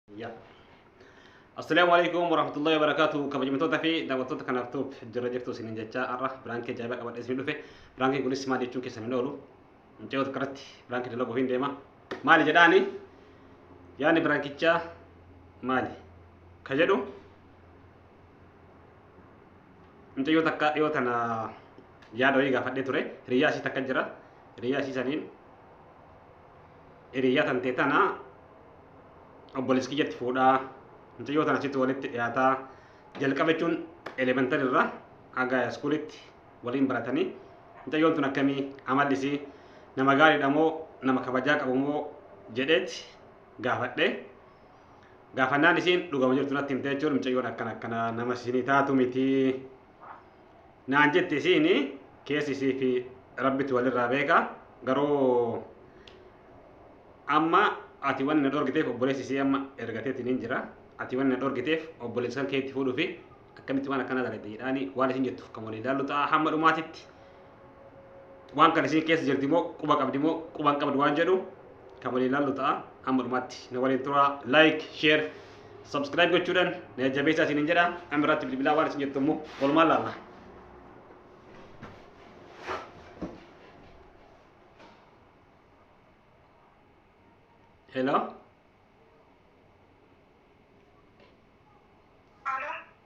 Ya. Assalamu alaikum warahmatullahi wabarakatuh. Kabajamtoota fi daawwattoota kanaaf tuub jirra jirtu isinin jechaa har'a biraankii ajaa'ibaa qabadhee isin dhufe. Biraankiin kunis maal jechuun keessan hin oolu. Mucayyoo tokko irratti biraankii dalaguu hin deema. Maali jedhaani? Yaadni biraankichaa maali? Ka jedhu mucayyoo takka dhiyoo tana yaada wayii gaafadhee ture. Hiriyyaa isii takka jira. Hiriyyaa isii saniin Hiriyaa tantee tana obboleessi kiyyatti fuudhaa mucayyoo tana achitti walitti dhiyaataa jalqaba jechuun elementari irraa haga iskuulitti waliin baratanii mucayyoon tun akkamii amalli isii nama gaariidha moo nama kabajaa qabu moo jedheet gaafadhe gaafannaan isiin dhugama jirtu natti himte jechuun mucayyoon akkana akkana nama isinii taatu miti naan jetti isiin keessi isii fi rabbitu walirraa beeka garuu amma ati wanni na dhorgiteef obboleessi isii amma ergateetiin hin jira ati wanni na dhorgiteef obboleessi kan keetti fuudhuufi akkamitti waan akkana dalagde jedhaani waan isin jettuuf kan walii ilaallu ta'a hamma dhumaatitti waan kan isin keessa jirti moo quba qabdi moo quba hin qabdu waan jedhu kan waliin ilaallu ta'a amma dhumaatti na waliin tura like share subscribe gochuudhaan na jajjabeessaa isiniin jedha amma irratti bilbilaa waan isin jettu immoo walumaan laalla. Hello?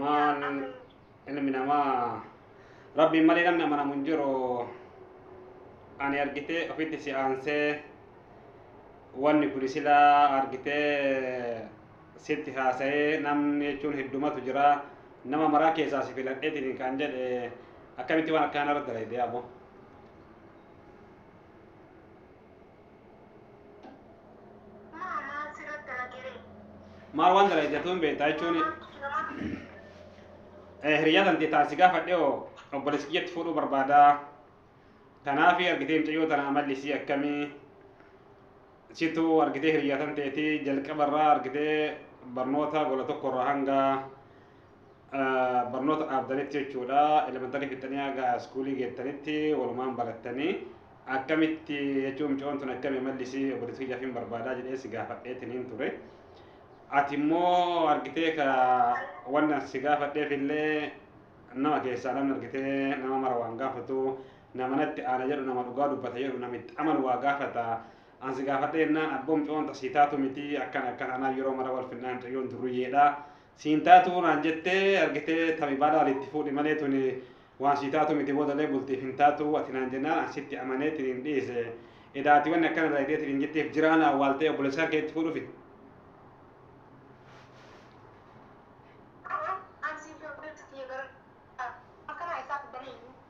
Maan ilmi namaa rabbiin malee namni amanamu hin jiru ani argitee ofitti si aansee wanni kun silaa argitee sitti haasa'ee namni jechuun heddumatu jira nama maraa keessaa si filadheetiin kan jedhe akkamitti waan akkaanarra dalayde abo Maal waan dalagatu hin beektaa jechuun hiriyaa tantee taasii gaafadhe oo obboleessi kiyyatti fuudhuu barbaada. Kanaaf argitee mucayyoo tana amalli isii akkamii situ argitee hiriyaa tanteeti jalqabarraa argitee barnoota gola tokkorraa hanga barnoota dhaabdanitti jechuudha. Elementarii fixanii haga iskuulii geettanitti walumaan barattanii. Akkamitti jechuun mucoon tun akkami amalli isii obboleettii kiyyaaf hin barbaadaa jedhee si gaafadheetiniin ture. Ati immoo argitee ka wanna si gaafadheef illee nama keessaa namni argitee nama mara waan gaafatu nama natti aana jedhu nama dhugaa dubbata jedhu namitti amanu waa gaafata. An si gaafadhee jennaan abboo mucoon tasii taatu miti akkana akkana anaa yeroo mara wal finnaan mucayyoon durriyyeedha. Siin taatu naan jette argite tami baalaal itti fuudhi malee tuni waan sii taatu miti boodalee bultiif hin taatu ati naan jennaan an sitti amanee tiniin dhiise edaa ati wanni akkana dalagdee tiniin jetteef jiraa na awwaaltee obbolessaan kee itti fuudhufi. Aboo an siif hin obboleettu tiyya bara akkanaa eessaa fiddan eeyyuu.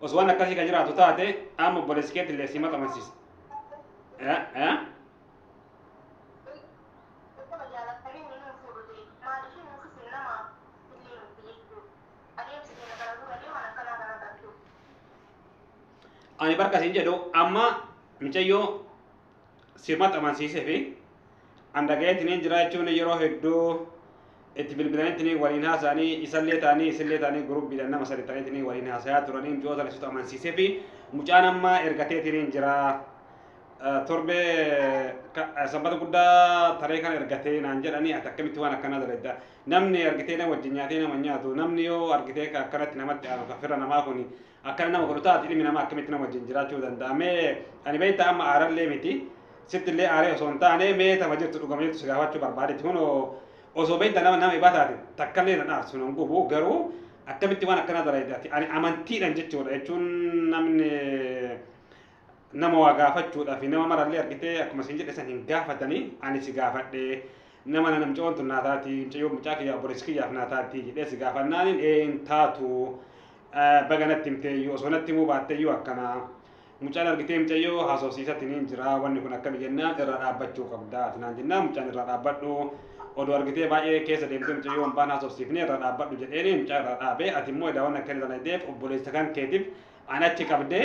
Osoo waan akkasii ka jiraatu taate amma obboleessi keetti illee si maxamansisa. Eh, eh? Ani barka siin jedhu amma micayyoo si maxxansiisee fi an dhagayeetiniin jira jechuun yeroo hedduu itti bilbilaniitiniin waliin haasa'anii isallee ta'anii isillee ta'anii gurubbiidhaan nama sadi ta'aniitiniin waliin haasayaa turanii mucoo sana situ amansiisee fi mucaan amma ergateetiniin jira torbee sanbata guddaa taree kana ergatee naan jedhanii ati akkamitti waan akkanaa dalaydda namni argitee nama wajjin nyaatee nama nyaatu namni yoo argitee akkanatti namatti aanu kafirra namaa kuni Akkana nama godhu taati ilmi namaa akkamitti nama wajjin jiraachuu danda'a mee ani beektaa amma aarallee miti sitti illee aaree osoo hin taane mee tama jirtu dhugama jirtu si gaafachuu barbaadetti kunoo osoo beektaa nama nama ibaa taate takkallee nan aarsu nan gubu garuu akkamitti waan akkanaa dalayde ati ani amantiidhan jechuudha jechuun namni nama waa gaafachuudhaaf nama marallee argitee akkuma isin jedhe san hin gaafatanii ani si gaafadhe nama nana mucayyoon tun naa taati mucayyoo mucaa kiyyaa obboleessi kiyyaaf naa taati jedhee si gaafannaanin ee hin taatu baga natti himteeyyuu osoo natti himuu baatteeyyuu akkana mucaan argitee mucayyoo haasofsiisatti niin jira wanni kun akkami jennaan irraa dhaabbachuu qabda atinaan jennaan mucaan irraa dhaabbadhu oduu argitee baay'ee keessa deemtee mucayyoo hin baana haasofsiifnee irraa dhaabbadhu jedheeni mucaa irraa dhaabee ati immoo edaa waan akkana daladeef obboleessa kan keetiif an achi qabdee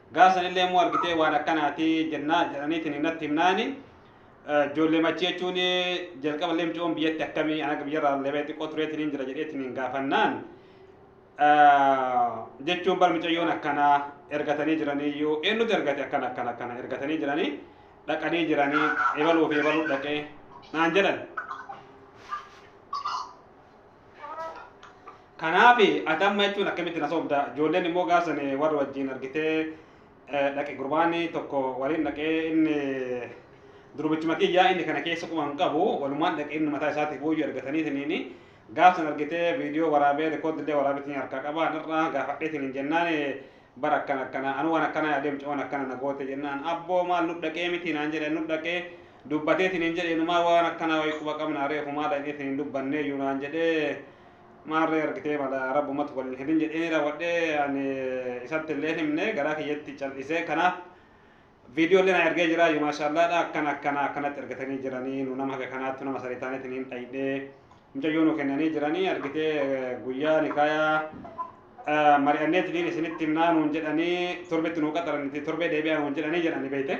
Gaafa sanillee immoo argitee waan akkanaati jennaa jedhaniitiin natti himnaani. Ijoollee machii jechuun jalqaba illee mucoon biyyatti akkamii ana biyyarraa illee xiqqoo tureetiin jira jedheetiin gaafannaan jechuun bar mucayyoon akkanaa ergatanii jiraniyyuu eenyutu ergate akkana akkana akkana ergatanii jiranii dhaqanii jiranii ebaluu fi ebaluu dhaqee naan jedhan. Kanaaf ati amma jechuun akkamitti na sobda ijoolleen immoo gaafsan warra wajjin argitee dhaqe gurbaan tokko waliin dhaqee inni durbichuma kiyyaa inni kana keessa quma hin qabu walumaan dhaqee inni mataa isaatiif booyyuu argatanii siniini gaafsan argitee viidiyoo waraabee rikoodillee waraabeetiin harkaa qabaa narraa gaafadheetiin hin jennaan bar akkana akkana anu wan akkana yaadee mucawan akkana na goote jennaan abboo maal nu dhaqee miti naan jedhe nu dhaqee dubbatee sinin jedhe inumaa waan akkanaa wayii quba qabna reefu maa dhaqee sinin dubbannee iyyuu naan jedhe maarree argitee mala rabbumatu waliin hedin jedhee ni raawwadhee ani isatti illee himne garaa kiyyatti cal'isee kanaaf Video illee na ergee jira yumaashaallaadha akkana akkana akkanatti ergatanii jiranii nu nama haga kanaattu nama sadii taaneetiin hin dhayidhee mucayyoo nu kennanii jiranii argitee guyyaa nikaayaa mari'anneetiniin isinitti himnaa nuun jedhanii torbetti nuu qaxaranitti torbee deebi'aa nuun jedhanii jedhanii beeyte.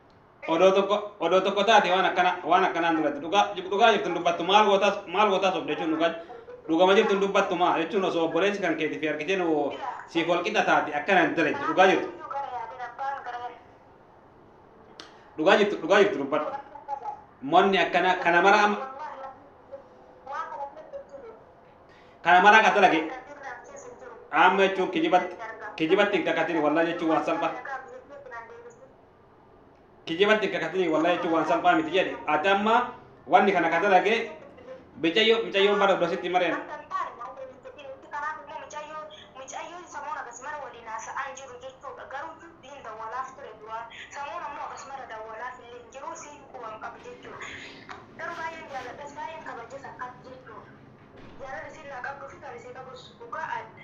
odoo tokko odoo tokko taate waan akkana waan akkanaan duratti dhugaa dhugaa jirtu hin dubbattu maal gootaas maal gootaas of jechuun dhugaa dhugama jirtu hin dubbattu maa jechuun osoo obboleessi kan keeti fi argitee nu siif wal qixa taate akkana hin dalagdu dhugaa jirtu dhugaa jirtu dhugaa jirtu dubbadhu monni akkana kana mara amma kana mara akka dalage amma jechuun kijibatti kijibatti hin kakatin wallah jechuun waan salphaa kijibatti hin kakatini wallahi jechuun waan salphaa miti jedhe ati amma wanni kana ka dalage micayyo micayyoon bara dura sitti mareen Jaalalli siin naa qabduu fi kan isii qabus dhugaa adda.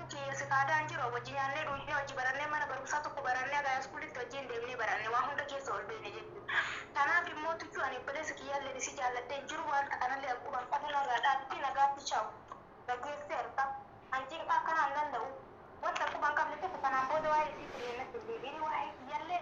Achi Sifaadaa Injiroo wajji nyaannee dhuugnee wajji barannee mana barumsaa tokko barannee haga haayiskuulitti wajjiin deemnee baranne waa hunda keessa ol beeyne jechuudha. Tanaaf immoo Tuchuu ani obboleessa kiyyaalleen isii jaalladhee hin jiru waanta kanallee an quban qabu narraa dhaabbii nagaatti chaw. Dhageesseerta. An cinqaa akkanaa hin danda'u. Wanta an quban qabne tokko tanaan booda waa'ee isiitillee natti hin deebi'ini waa'ee kiyyallee.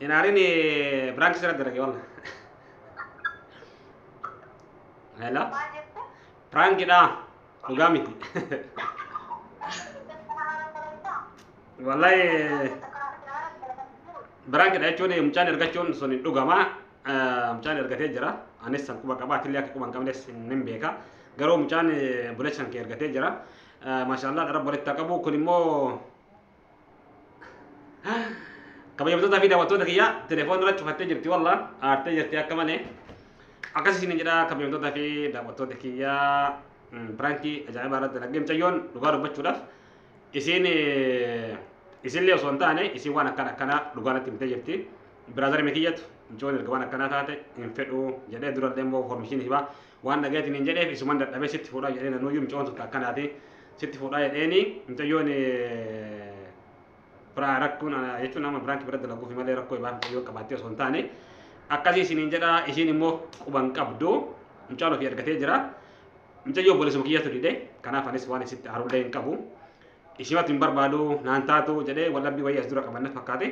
hin aarini biraanki sirra dalage walla hello Maal jette? piraankidha dhugaa miti wallahi biraankiidha jechuun mucaan ergachuun sun hin dhugama Eh, mucaan ergatee jira anis san quba qaba atillee akka quba hin qabnes hin hin beeka garuu mucaan eh, buleessan kee ergatee jira Eh, maashaallah dharab walitti haa qabu kun immoo kabajamtootaa fi daawwattoota kiyya telefoon irra cufattee jirti walla aartee jirti akka malee akkas isin jedha kabajamtootaa fi daawwattoota kiyya piraankii ajaa'ibaa irratti dalagee mucayyoon dhugaa dubbachuudhaaf isin isinillee osoo hin taane isin waan akkana akkanaa dhugaa natti himtee jirti biraazarime kiyyatu mucayyoon erga waan akkanaa taate hin fedhu jedhee durallee immoo foormishiin hibaa Waan dhageetiin hin jedheef isuman dadhabee sitti fuudhaa jedhee nanuuyyuu mucoon tun akkanaati sitti fuudhaa jedheeni mucayyoon biraa rakkoon jechuun nama biraanki bira dalaguufi malee rakkoo ibaa mucayyoo qabaattee osoo hin taane akkasii isiniin jedha isiin immoo quban qabdu mucaan ofii argatee jira mucayyoo bolisuma kiyyatu dide kanaaf anis waan isitti aarullee hin qabu ishimatu hin barbaadu naan taatu jedhee wallabbii wayii as dura qabanna fakkaate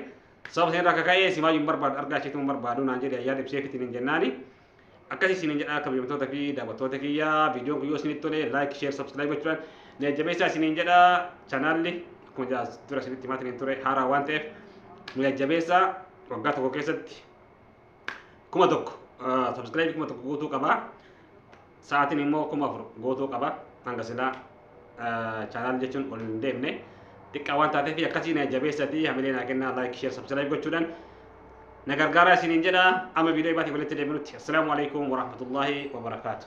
sababa isin irraa kaka'ee simaa hin barbaadu argaa isheetu hin barbaadu naan jedhe ayyaa dibsee fitiin hin jennaani Akkasii isiniin jedhaa kabajamtoota fi daawwattoota kiyya viidiyoon kun yoo isinitti tole laayik sheer sabskiraayib gochuudhaan na jajjabeessaa isiniin jedha chanaalli akkuma jedhaa dura isinitti himaa isiniin ture haaraa waan ta'eef nu jajjabeessaa waggaa tokko keessatti kuma tokko sabskiraayibii kuma tokko guutuu qaba sa'aatiin immoo kuma afur guutuu qaba hanga silaa chaanaal jechuun ol hin deemne xiqqaa waan taateef akkasii na jabeessatii hamilee naa kennaa laayik sheer sabsilaayib gochuudhaan na gargaaraa isiniin jedha amma viidiyoo ibaatii walitti deebinutti assalaamu alaikum warahmatullaahi wabarakaatu